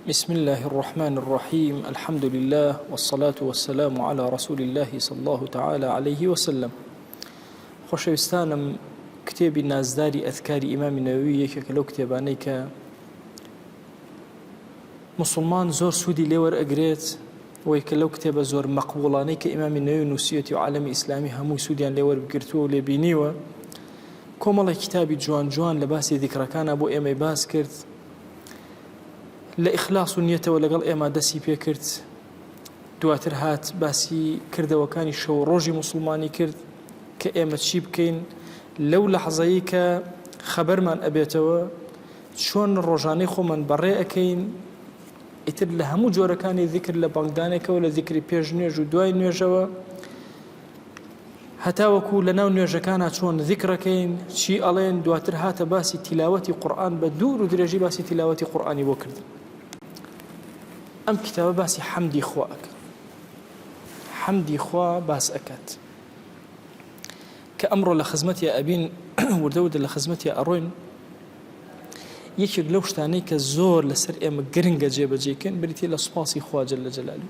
بسم اللە الرحمن الرحیم الحمد للە والصلاة والسلام على رسول اللە صلی اللە تعالی علیه وسلم خۆشەویستانم کتێبی نازداری ئەذکاری ئیمامی نەوەوی یەکێکە لەو کتێبانەی کە مسلمان زۆر سوودی لێوەر ئەگرێت وەی کە لەو کتێبە زۆر مەقبوڵانەی کە ئیمامی نوێ نووسەتی و عالمی ئیسلامی هەمووی سوودیان لێوەرگرتووە و لێبینیوە کۆمەڵی کتابی جوان جوان لە باسی دیکڕەکانە بۆ ئێمەی باس کرد لە ئیخلاس و نیەتەوە لەگەڵ ئێمە دەسی پێکرد دواتر هات باسی کردەوەکانی شەو ڕۆژی مسلمانی کرد کە ئێمە چی بکەین لەو لە حەزایی کە خەبەرمان ئەبێتەوە چۆن ڕۆژانەی خۆمان بەڕێ ئەەکەین ئیتر لە هەموو جۆرەکانی ذکر لە بەڵگدانێکەوە لە ذکری پێش نوێژ و دوای نوێژەوە هەتاوەکو لەناو نوێژەکانا چۆن ذیکڕەکەین چی ئەڵێن دواتر هاتە باسی تیلاوەتی قورئان بە دوور و درێژی باسی تیلاوەتی قورئانی بۆ کردن ئەم کتابە باسی حەمدی خوا ئەکە حەمدی خوا باس ئەکات کە ئەمڕۆ لە خزمەتی ئەبین وردە وردە لە خزمەتی ئەڕۆین یەکێک لەو شتانەی کە زۆر لەسەر ئێمە گرنگە جێبەجێکن بریتە لە سوپاسی خواجل لە جەلالی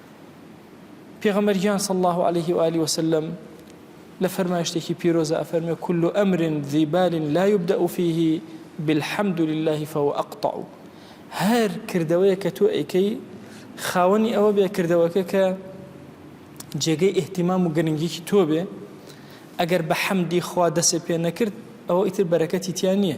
پێغەمبەر گیان صلی اللە علیه و آله وسلم لە فەرمایشتێکی پیرۆزە ئەفەرمێ کل امر ذی بال لا يبدأ فيه بالحمد لله فهو اقطع هەر کردەوەیە کە تۆ ئەیکەی خاوەنی ئەوە بێ کردەوەکە کە جێگەی ئیهتیمام و گرنگیکی تۆ بێ ئەگەر بە حەمدی خوا دەسێ پێ نەکرد ئەوە ئیتر بەرەکەتی تیا نییە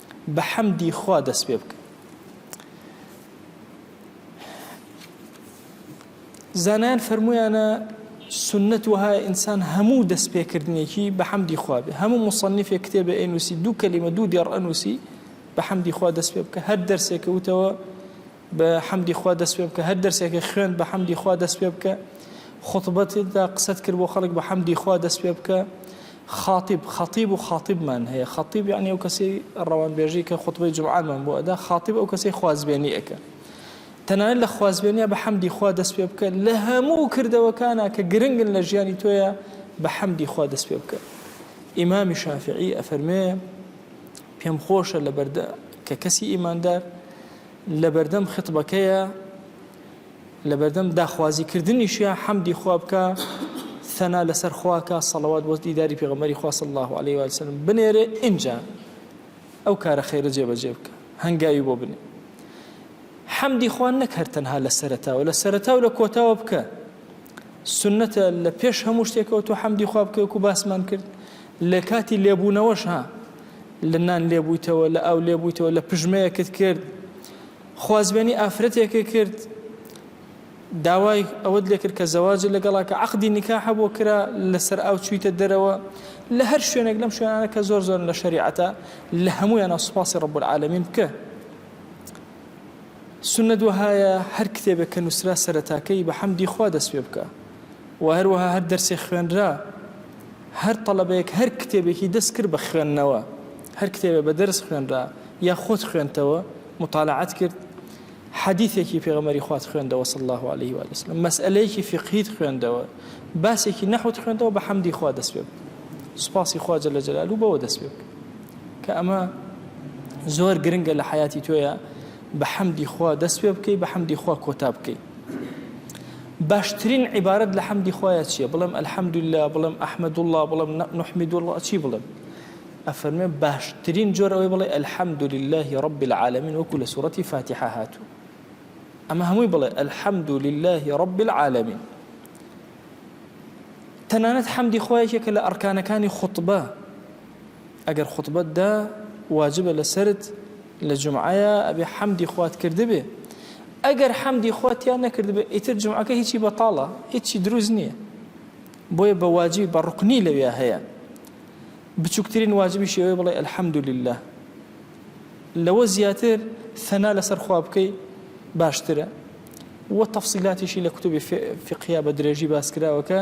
بە حەمدی خوا دەست پێ بکەن زانایان فەرمویانە سنت وها ئینسان هەموو دەست پێکردنێکی بە حەمدی خوابێ هەموو مصنفێ کتێبە ئەنووسی دوو کەلیمە دوو دێڕ ئەنووسی بە حەمدی خوا دەست پێ بکە هەر دەرسێکەوتەوە بە حەمدی خوا دەست پێ بکە هەر دەرسێکە خوێن بە حەمدی خوا دەست پێ بکە خطبەتدا قسەت کرد بۆ خەڵک بە حەمدی خوا دەست پێ بکە خاطب خطیب و خاطبمان هەیە خطیب یعنی ئەو کەسی ڕەوانبێژی کە خطبەی جمعانمان بۆ ئەدا خاطب ئەو کەسی خوازبێنی ئەەکە تەنانەت لە خوازبێنە بە حەمدی خوا دەست پێ بکە لە هەموو کردەوەکانە کە گرنگن لە ژیانی تۆیە بە حەمدی خوا دەست پێ بکە ئیمامی شافعی ئەفەرمێ پێم خۆشە لە بەردە کە کەسی ئیماندار لەبەردەم خیتبەکەیە لەبەردەم داخوازی کردنیشە حەمدی خوا بکە ثەنا لەسەر خواکە سەڵەوات بۆ دیداری پێغەمەری خوا صلی الله علیه و سلم بنێرێ ئینجا ئەو کارە خێرە جێبەجێ بکە هەنگاوی بۆ بنێ حەمدی خوان نەک هەر تەنها لە سەرتاوە لە سەرتا و لە کۆتاوە بکە سنەتە لە پێش هەموو شتێکەوە تۆ حەمدی خوا بکەوەکو باسمان کرد لە کاتی لێبوونەوەشا لە نان لێبوویتەوە، لە ئاو لێبوویتەوە، لە پژمەیەکت کرد، خوازبێنی ئافرەتێکت کرد، داوای ئەوەت لێکرد کە زەواجت لەگەڵا کە عەقدی نیکاحە بۆ کرا، لەسەر ئاو چوویتە دەرەوە، لە هەر شوێنێک لەم شوێنانە کە زۆر زۆرن لە شەریعەتا، لە هەموویانە سوپاسی رب العالمین بکە. سوننەت وەهایە هەر کتێبێک کە نووسرا سەرەتاکەی بە حەمدی خوا دەست پێ بکە و هەروەها هەر دەرسێک خوێنرا، هەر تەڵەبەیەک هەر کتێبێکی دەست کرد بە خوێندنەوە، هەر کتێبێ بە دەرس خوێنرا یا خۆت خوێندتەوە، موتالەعەت کرد، حەدیثێکی پێغەمبەری خوات خوێندەوە صلی اللە علیه و آله وسلم، مەسئەلەیەکی فیقهیت خوێندەوە، باسێکی نەحوت خوێندەوە بە حەمدی خوا دەست پێ بکە. سوپاسی خوا جل جلاله بەوە دەست پێ بکە. کە ئەمە زۆر گرنگە لە حیاتی تۆیە بە حەمدی خوا دەست پێ بکەی بە حەمدی خوا کۆتا بکەی. باشترین عیبارەت لە حەمدی خوایە چییە بڵێم الحمدللە بڵێم احمد الله بڵێم نحمد الله چی بڵێم ئەفەرمێ باشترین جۆر ئەوەی بڵێ الحمد لله رب العالمین وەکو لە سوورەتی فاتحە هاتوو ئەمە هەمووی بڵێ الحمد لله رب العالمین تەنانەت حەمدی خۆیەکێکە لە ئەرکانەکانی خوتبە ئەگەر خوتبەت دا واجبە لەسەرت لە جومعەیا ئەبێ حەمدی خوات کردبێ ئەگەر حەمدی خوا تیا نەکردبێ ئیتر جومعەکە هیچی بەتاڵە هیچی دروست نییە بۆیە بە واجبی بە ڕوکنی لەوێ هەیە بچووکترین واجبی شێوەی بڵێ الحمد لله لەوە زیاتر ثەنا لەسەر خوا بکەی باشترە و تەفسیلاتیشی لە کتوبی فقیا بە درێژی باسکراوەکە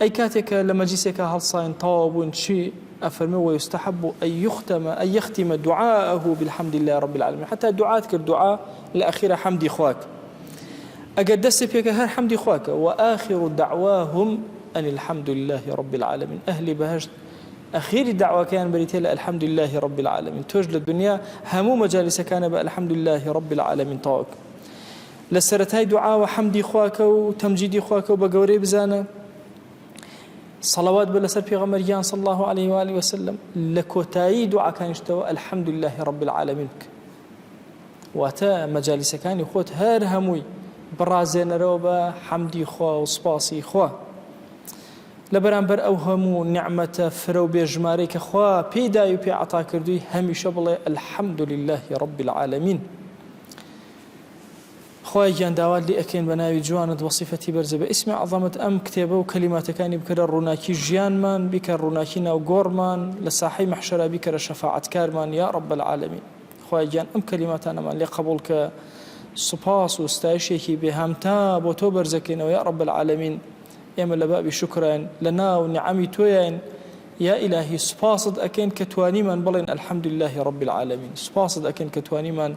ئەی کاتێ کە لە مەجلیسێکا هەڵساین تەواو بووین چی ئەفەرمێ ویستحب ان یختم ان یختم دعاءه بالحمد للە رب العالمین حتا دوعات کرد دوعا لە ئەخیرا حەمدی خواک ئەگەر دەستێ پێکە هەر حەمدی خواکە و آخر دعواهم ان الحمد للە رب العالمین ئەهلی بەهشت ئەخیری داواکەیان بریتە لە الحمد للە رب العالمین تۆش لە دنیا هەموو مەجالیسەکانە بە الحمد للە رب العالمین تاوک لە سەرەتای دوعاوە حەمدی خوا کە و تەمجیدی خوا کە و بە گەورەی بزانە صلوات بە لەسەر پێغەمبەر گیان صلی الله علیه و آله وسلم لە کۆتایی دوعاکانیشتەوە الحمد لله رب العالمین بکە واتە مەجالیسەکانی خۆت هەر هەمووی بڕازێنەرەوە بە حەمدی خوا و سپاسی خوا لە بەرامبەر ئەو هەموو نعمەتە فرە و بێژمارەی کە خوا پێی داوی پێ عتا کردووی هەمیشە بڵێ الحمد لله رب العالمین خوایە گیان داوات لێ ئەکەین بە ناوی جوانت وسیفەتی بەرزە بە ئیسمی عەزەمت ئەم کتێبە و کەلیماتەکانی بکەرە ڕووناکی ژیانمان بیکە ڕووناکی ناو گۆڕمان لە ساحەی مەحشەرا بیکەرە شەفاعەت کارمان یا رب العالمین خوایە گیان ئەم کەلیماتانەمان لێ قەبوڵ کە سوپاس و ستایشێکی بێ هەمتا بۆ تۆ بەرزەکەینەوە یا رب العالمین ئێمە لە بابی شکراین لە ناو نعەمی تۆیین یا ئیلاهی سوپاست ئەکەین کە توانیمان بڵێن الحمد لله رب العالمین سوپاست ئەکەین کە توانیمان